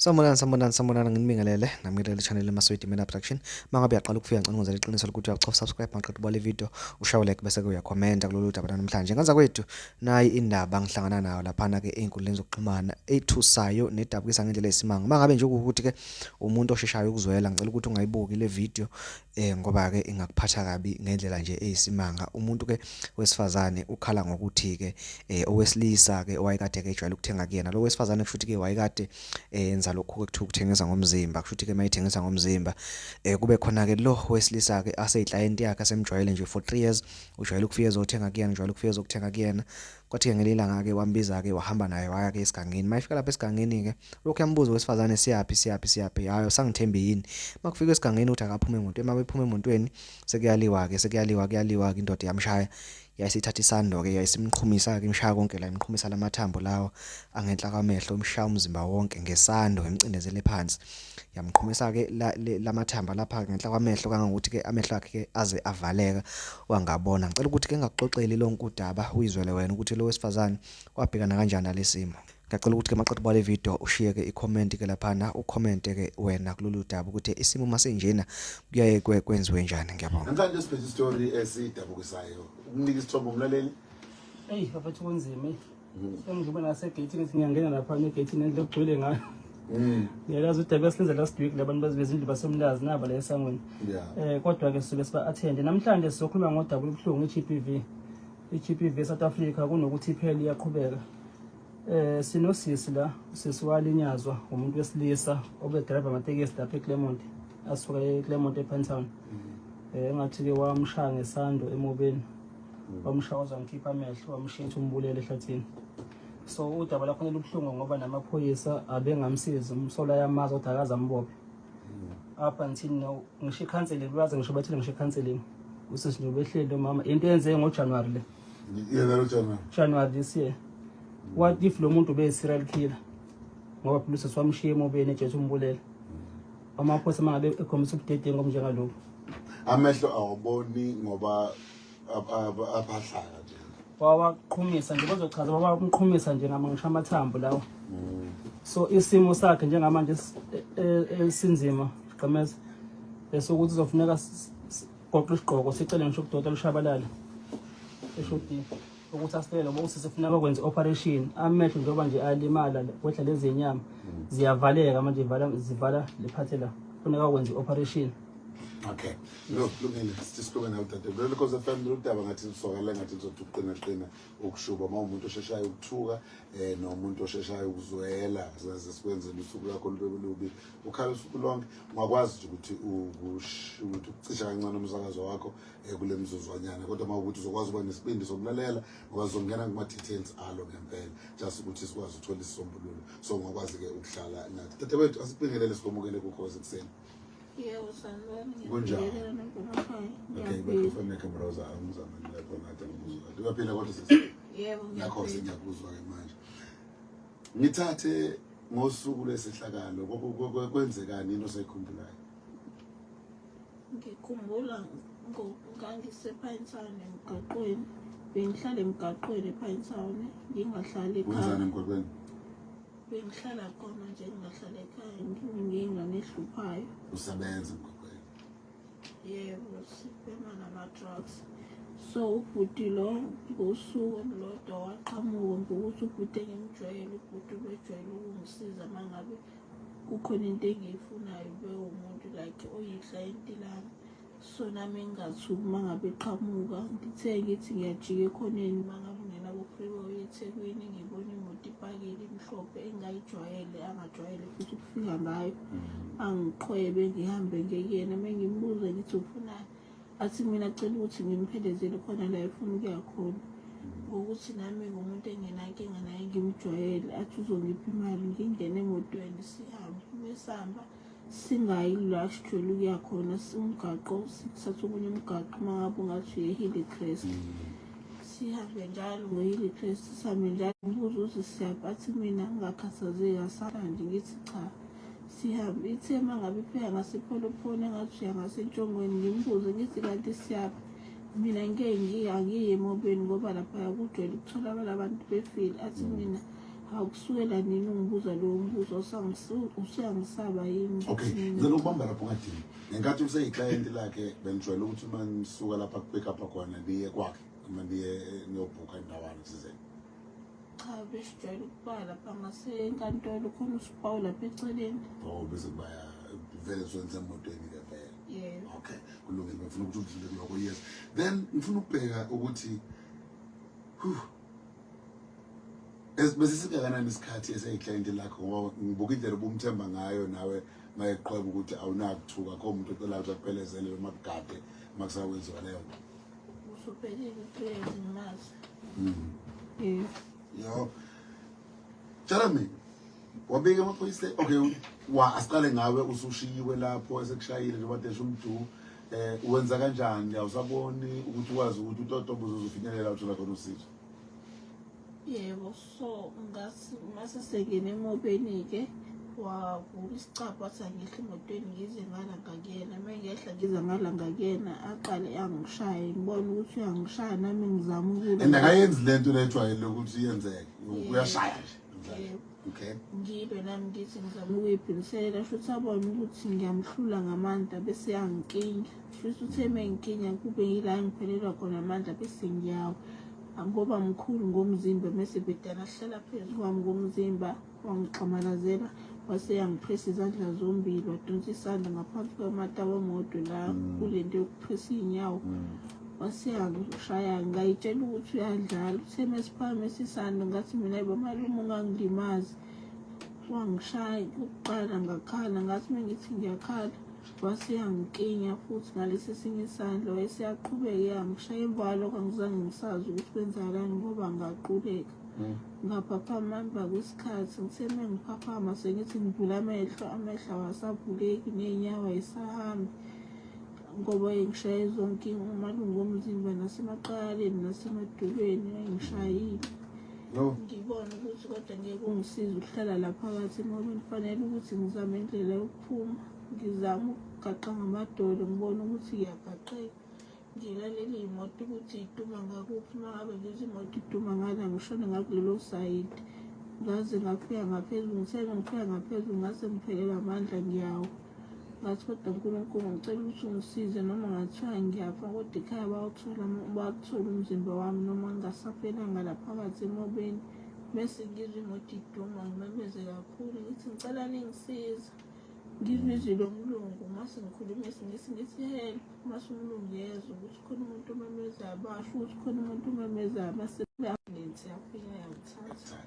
Sanibonani sanibonani sanibonani nginibingelele nami ngilele channel eMaswidi Mina Production mangabe uyaqala ukufika ngicela ngenzele iqiniso lokuthi uyachofa subscribe maqedwe bale video ushaye like bese ke uyakhomenta kulolu daba namhlanje ngenza kwethu nayi indaba ngihlangana nayo laphana ke einkundleni zokuxhumana ethusayo nedabukisa ngendlela esimanga mangabe nje ukuthi ke umuntu osheshayo ukuzwela ngicela ukuthi ungayibuki le video eh ngoba ke ingakuphatha kabi ngendlela nje eyisimanga umuntu ke wesifazane ukhala ngokuthi ke eh owesilisa ke owayekade ke ejwayele ukuthenga kuyena lo wesifazane kushuthi ke wayekade eh, enza lokhu ekuthiwa ukuthengisa ngomzimba kushuthi ke mayithengisa ngomzimba eh kube khona ke lo wesilisa ke aseyiclient yakhe asemjwayele nje for 3 years ujwayele ukufika ezothenga kuyena ujwayele ukufika ezokuthenga kuyena Kwathi-ke ngelinye ilanga-ke wambiza-ke wahamba naye waya-ke esigangeni. Uma efika lapha esigangeni-ke lokhu yambuza owesifazane siyaphi siyaphi siyaphi hhayi usangithembi yini. Uma kufika esigangeni ukuthi akaphume emontweni uma bephuma emontweni sekuyaliwa-ke sekuyaliwa kuyaliwa-ke indoda yamshaya yayisithatha isando-ke yayisimqhumisa-ke imshaya konke la imqhumisa la mathambo lawa angenhla kwamehlo imshaya umzimba wonke ngesando imcindezele phansi. yamqhumisa ke lamathamba lapha ngenhla kwamehlo kangangokuthi ke amehlo akhe ke aze avaleka wangabona ngicela ukuthi ke ngakuxoxeli lonke udaba uyizwele wena ukuthi lo wesifazane wabhekana kanjani nalesimo ngiyacela ukuthi ke maqeda ubale video ushiye ke i-comment ke laphana ucommente ke wena kulolu daba ukuthi isimo masinjena kuyaye kwenziwe njani ngiyabonga namhlanje sibheke istory esidabukisayo ukunika isithombo umlaleli eyi baphethe kunzima Sengidlula ngasegeyithini ngithi ngiyangena lapha negeyithini endle kugcwele ngayo. Mm. Ngiyalazi ukuthi abesenze last week labantu bazibezindlu basemlazi naba la esangweni. Eh kodwa ke sibe siba attend. Namhlanje sizokhuluma ngodaba olubuhlungu iGPV. iGPV South Africa kunokuthi iphele iyaqhubeka. Eh sinosisi la usisi walinyazwa umuntu wesilisa obe driver amatekisi lapha eClermont asuka eClermont ePentown. Mm. Eh ngathi ke wamshaya ngesando emobeni. wamshawaza wamkhipha amehlo wamshintsha umbulele ehlathini so udaba lakhona lubuhlungu ngoba namaphoyisa abengamsizi umsola yamazi ukuthi akaze ambophe up until now ngisho ikhanseling lwazi ngisho bathile ngisho ikhanseling usisi nje ubehleli lo mama into eyenzeke ngojanuwari le yena lo januwari januwari this year what if lo muntu ube-serial killer ngoba phela usisi wamshiya emobeni ejethi umbulele amaphosa uma ngabe ekhombisa ubudedengu obunjengaloku amehlo awaboni ngoba abadlala nje wawaqhumisa nje bazochaza wawaqhumisa nje ngama ngisho amathambo lawo mm. so isimo sakhe njengamanje e, e, esinzima gqemeza esokuthi uzofuneka sigoqe isigqoko sicele ngisho ukudoda lushabalale eshodini ukuthi asibele ngoba usisi funa bakwenze operation amehlo njengoba nje alimala kwehla lezi nyama mm. ziyavaleka manje vala zivala lephathe la funeka kwenze operation okay no lungile sisibuke nawe dade lelo because FM lutaba ngathi lisokala ngathi lizothi uqina qina ukushuba uma umuntu osheshayo ukuthuka eh nomuntu osheshayo ukuzwela zaze sikwenze usuku lakho lube lubi ukhala usuku lonke ungakwazi ukuthi ukuthi ucisha kancane umsakazo wakho eh, kule mzuzwanyana kodwa uma ukuthi uzokwazi uba nesibindi sokulalela ngoba zizongena kuma-details alo ngempela just ukuthi sikwazi ukuthola isisombululo so ngokwazi-ke ukuhlala nathi tata wethu asibingelele sikomukele kukhozi ekuseni yebo sanibona Kunjani? ngiyabingelela nonkulumkhaya okay bakufaneke mroza angizama nilapho nathi angikuzwa uyaphila kodwa sisi yebo nakho ngiyaphila. sengiyakuzwa-ke manje ngithathe ngosuku lwesehlakalo Kwe- kwe- kwe- kwenzekani into osayikhumbulayo ngikhumbula ngangisephayinsane emgaqweni bengihlala emgaqweni ephayinsane ngingahlali ekhaya bengihlala khona nje ngingahlala ekhaya ngingane ehluphayo usebenza emgaqweni yebo sibhema nama-drugs so ubhuti lo ngosuku olulodwa waqhamuka ngokuthi ubhuti engimjwayele ubhuti ubejwayele ukungisiza uma ngabe kukhona into engiyifunayo bewumuntu like oyiklayenti lami so nami ngingathuki uma ngabe qhamuka ngithe ngithi ngiyajika ekhoneni uma ngabe ungena kufreeway ethekwini ngibona imoto ipakile imhlophe engingayijwayele angajwayele futhi ukufika ngayo mm. angiqhwebe ngihambe ngekuyena uma ngimbuze ngithi ufunani athi mina cela ukuthi ngimphelezele khona la efuna ukuya khona ngokuthi nami ngumuntu engenankinga naye ngimjwayele athi uzongipha imali ngingene emotweni sihambe uma esihamba singayi la sijwele ukuya khona umgaqo sikuthatha okunye umgaqo uma ngabe ungathi uyehile crest sihambe njalo ngoyile crest sihambe njalo ngibuza uze siyaphi athi mina ngingakhathazeki asala nje ngithi cha Siyaphi ithe uma ngabe ipheka ngasepholophoni engathi uya ngasentshongweni ngimbuze ngithi kanti siyaphi mina ngike ngiyi emobeni ngoba laphaya kujwayele ukutholakala abantu befile athi mina akusukela nini ungibuza lowo mbuzo useyangisaba yini okay ngicela ukubamba lapho ngadini ngenkathi useyiclayenti lakhe benijwayele ukuthi uma nisuka lapha kupick up khona niye kwakhe uma niye niyobhukha indawana thizeni cha besijwayele ukuba lapha ngasenkantolo khona usibawu lapha eceleni oh bese kuba vele zwenza emotweni ke vele yeah okay kulungile ngifuna ukuthi udlule kuloko yes then ngifuna ukubheka ukuthi besisikanganani isikhathi eseyiclient lakho ngoba ngibuka indlela ubumthemba ngayo nawe mayeqhweba ukuthi awunakuthuka kho muntu ocelayo ukuthi akuphelezele uma kugade uma kusakwenziwa leyo nto Usubhekile uhlezi ngimazi. Mm. Yes. Yo. Tshela mina. Wabika amaphoyisa. Okay, wa asiqale ngawe usushiyiwe lapho esekushayile njengoba desha umdu. Eh wenza kanjani? Awusaboni ukuthi wazi ukuthi utotobo uzofinyelela uthola khona usizo. Yebo. so ngathi mase sengene emobeni-ke wavula isicabha wathi angehla emotweni ngize ngala ngakuyena uma ngehla ngize ngala ngakuyena aqale angishaye ngibone ukuthi uyangishaya nami ngizama ukula and akayenzi le nto lejwayele ukuthi yenzeke uyashaya nje okay ngibe nami ngithi ngizama ukuyibhilisela shuthi abone ukuthi ngiyamhlula ngamandla bese yangikinya shuthi uthe uma ngikinya kube yila ngiphelelwa khona amandla bese ngiyawa angoba mkhulu ngomzimba mese bedala hlala phezu kwami ngomzimba wangixamalazela waseyangiphesa izandla zombili wadonsa isandla ngaphansi kwamata wamodwe la mm. kule nto yokuphesa iy'nyawo mm. waseyangishaya ngayitshela ukuthi uyadlala uthe mesiphakame sisando ngathi mina bamalume ungangilimazi wangishaya kuqala ngakhala ngathi uma ngithi ngiyakhala wasiyangiklinya futhi ngalesi esinye isandla wayesiyaqhubeka eyangishaye ivalo kangizange ngisazi ukuthi kwenzakalani ngoba ngaquleka hmm. ngaphaphama emva kwesikhathi ngiseme ngiphaphama sengithi ngivula amehlo amehlo awasavuleki ney'nyawo ayisahambi ngoba engishaye zonke umalungu omzimba nasemaqaleni nasemadolweni ayengishayile ngibone ukuthi kodwa ngeke ungisize ukuhlala la phakathi ngoba ngifanele ukuthi ngizame indlela phuma ngizama ukugaqa ngamadolo ngibona ukuthi ngiyagaxeka nje laleli yimoto ukuthi iduma ngakuphi uma ngabe lezi moto iduma ngala ngishone ngakulelo sayidi ngaze ngafika ngaphezulu ngisele ngifika ngaphezulu ngase ngiphelelwa amandla ngiyawo ngathi kodwa nkulunkulu ngicela ukuthi ungisize noma ngathiwa ngiyafa kodwa ekhaya bawuthola bawuthole umzimba wami noma ngingasaphelanga laphakathi emobeni mese ngizwe imoto iduma ngimemeze kakhulu ngithi ngicela ningisiza ngizwe izwi lomlungu mase ngikhuluma isingisi ngithi help mase umlungu yezwa ukuthi khona umuntu omemezayo basho ukuthi khona umuntu omemezayo mase i-ambulensi yafika yangithatha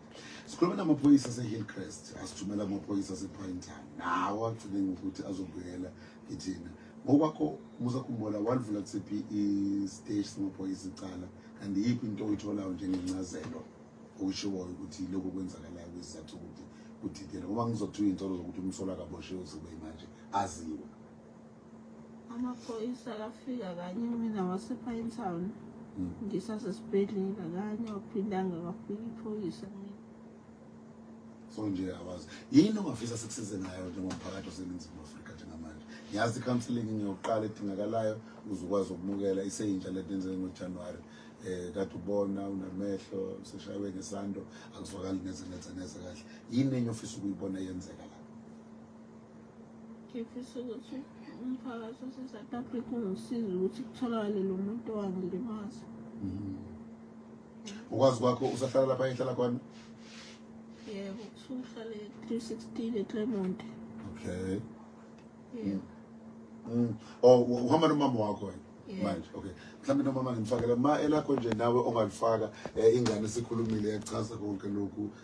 sikhuluma namaphoyisa ase-hillcrest asithumela amaphoyisa ase-pointan nawo agcine ngokuthi azobuyela kithina ngokwakho musa khumbula walivula kusiphi isiteshi samaphoyisa icala and iyiphi into oyitholayo njengencazelo okushiwoyo ukuthi lokhu kwenzakalayo kwizizathu ukuthi kudidele ngoba ngizothi uyintsolo zokuthi umsolo akaboshiwe uzobe manje aziwe amaphoyisa akafika kanye mina wasepine town hmm. ngisasesibhedlela kanye waphindanga kwafika iphoyisa mina so nje awazi yini ongafisa sikusize ngayo njengomphakathi oseningizimu afrika njengamanje ngiyazi i-counseling ngiyoqala edingakalayo uzokwazi ukumukela iseyintsha lento enzeke ngojanuwari um eh, kade ubona unamehlo seshaywe ngesando akuzwakali neze neze neze kahle yini enye ofisa ukuyibona yenzeka la ngifisa ukuthi umphakathi wase-south africa ungisize ukuthi kutholakale lo muntu owangilimaza mm -hmm. ukwazi kwakho usahlala lapha ehlala khona yebo usuhlala e-316 eclermont okay yebo mm. oh uhamba nomama wakho wena manje okay mhlawumbe nomama ngimfakela ma elakho nje nawe ongalifaka eh, ingane sikhulumile yachaza konke lokhu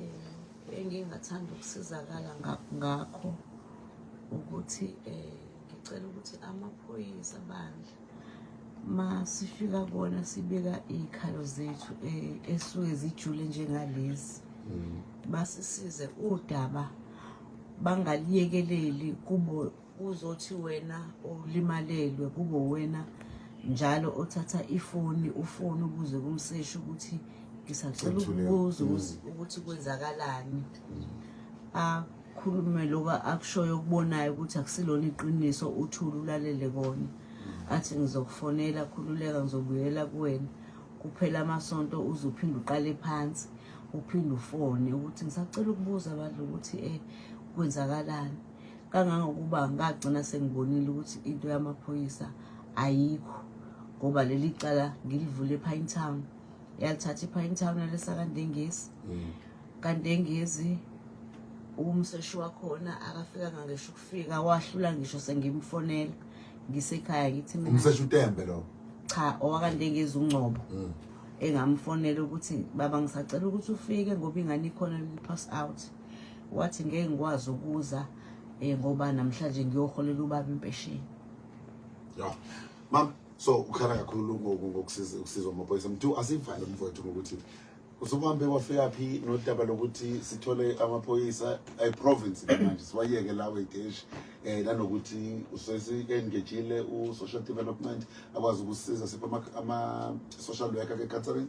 eh, engingathanda ukusizakala ngakho ukuthi eh, ngicela ukuthi amaphoyisa bandla ma sifika kona sibeka iy'khalo zethu eh, esuke zijule njengalezi mm. basisize udaba bangaliyekeleli kubo uzothi wena olimalelwe kube wena njalo othatha ifoni ufoni ubuze kumseshi ukuthi ngisacela ukubuza mm. ukuthi kwenzakalani akhulume loba akushoyo okubonayo ukuthi akusilona iqiniso uthule ulalele kona athi ngizokufonela khululeka ngizobuyela kuwena kuphela amasonto uze uphinde uqale phansi uphinde ufone ukuthi ngisacela ukubuza abantu ukuthi um kwenzakalani kangangokuba ngagcina sengibonile ukuthi into yamaphoyisa ayikho ngoba leli cala ngilivule ePine Town yalithatha iPine Town yalesakandengezi mm. kandengezi umseshi wakhona akafika ngangisho ukufika wahlula ngisho sengimfonela ngisekhaya ngithi mina umseshi utembe lo cha owakandengezi ungcobo mm. engamfonela ukuthi baba ngisacela ukuthi ufike ngoba ingane ikhona pass out wathi ngeke ngikwazi ukuza eh ngoba namhlanje ngiyoholela ubaba impesheni yeah mama so ukhala kakhulu ngokusiza ukusizwa amaphoyisa mthu asivale mfowethu ngokuthi usukuhambe kwafika phi nodaba lokuthi sithole amaphoyisa eprovince manje siwayeke lawo edeshi eh nanokuthi usesi-engejile u-social development akwazi ukusiza sipha ama-social worker ke-catering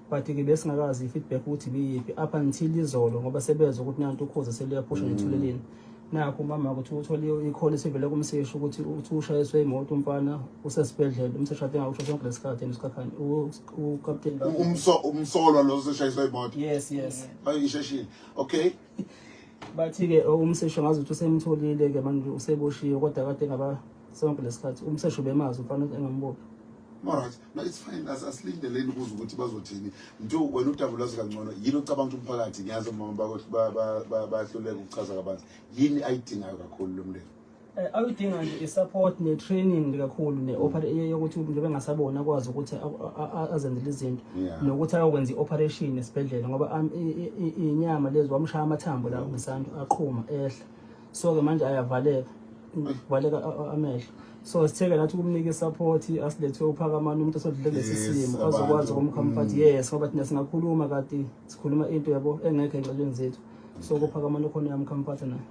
but ke besingakazi i-feedback ukuthi biyiphi up until izolo ngoba sebezwa ukuthi nanto ukhoza seliyaphusha mm. nethuleleni nakho umama ukuthi uthole ikhole sivele kumseshi ukuthi uthi ushayiswe imoto umfana usesibhedlela umseshi ade ngakusho sonke lesikhathi enisikakhani ukapteni umso umsolwa lo useshayiswe imoto yes yes bayisheshile okay bathi ke oh, umseshi ngazi ukuthi usemtholile ke manje useboshiwe kodwa kade ngaba sonke lesikhathi umseshi ubemazi umfana engambophi all right no it's fine asilindeleni ukuze ukuthi bazothini mntu wena udaba lwazi kangcono yini ocabanga ukuthi umphakathi ngiyazi omama bahluleka ukuchaza kabanzi yini ayidingayo kakhulu lo mndeni eh, awuyidinga nje i-support ne-training kakhulu yokuthi njengoba engasaboni akwazi ukuthi azenzele izinto nokuthi ayokwenza i-operation esibhedlela ngoba inyama lezi wamshaya amathambo la ngesandla aqhuma ehla so ke manje ayavaleka kuvaleka amehlo so sitheke nathi ukumnika i-support asilethe uphakamana umuntu osodlule lesi simo azokwazi ukumkhamfathi mm. yes ngoba thina singakhuluma kati sikhuluma into yabo engekho enxelweni zethu so kuphakamana okhona uyamkhamfathi naye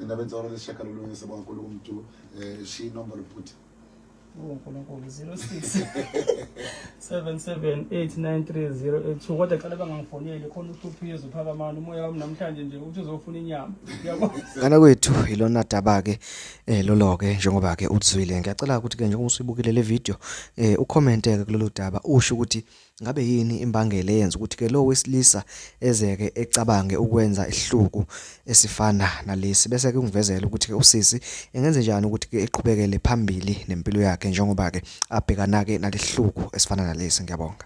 indaba ensolo lesishagalolunye sebongankulu kumntu um eh, shiya inombolo bhuti unkulunkulu 06 7789308 kodwa cela bangangifoneli khona uhluphizo phakamana umoya wami namhlanje nje uthi uzofuna inyama ngana kwethu ilona daba ke eh lolo ke njengoba ke uthwile ngiyacela ukuthi ke njengoba usibukile le video eh ucommente ke kulolu daba usho ukuthi Ngabe yini imbangela eyenza ukuthi-ke lo wesilisa ezeke ecabange ukwenza isihluku esifana nalesi? Bese kungivezela ukuthi-ke usisi engenze njani ukuthi-ke eqhubekele phambili nempilo yakhe njengoba-ke abhekana-ke nalesihluku esifana nalesi. Ngiyabonga.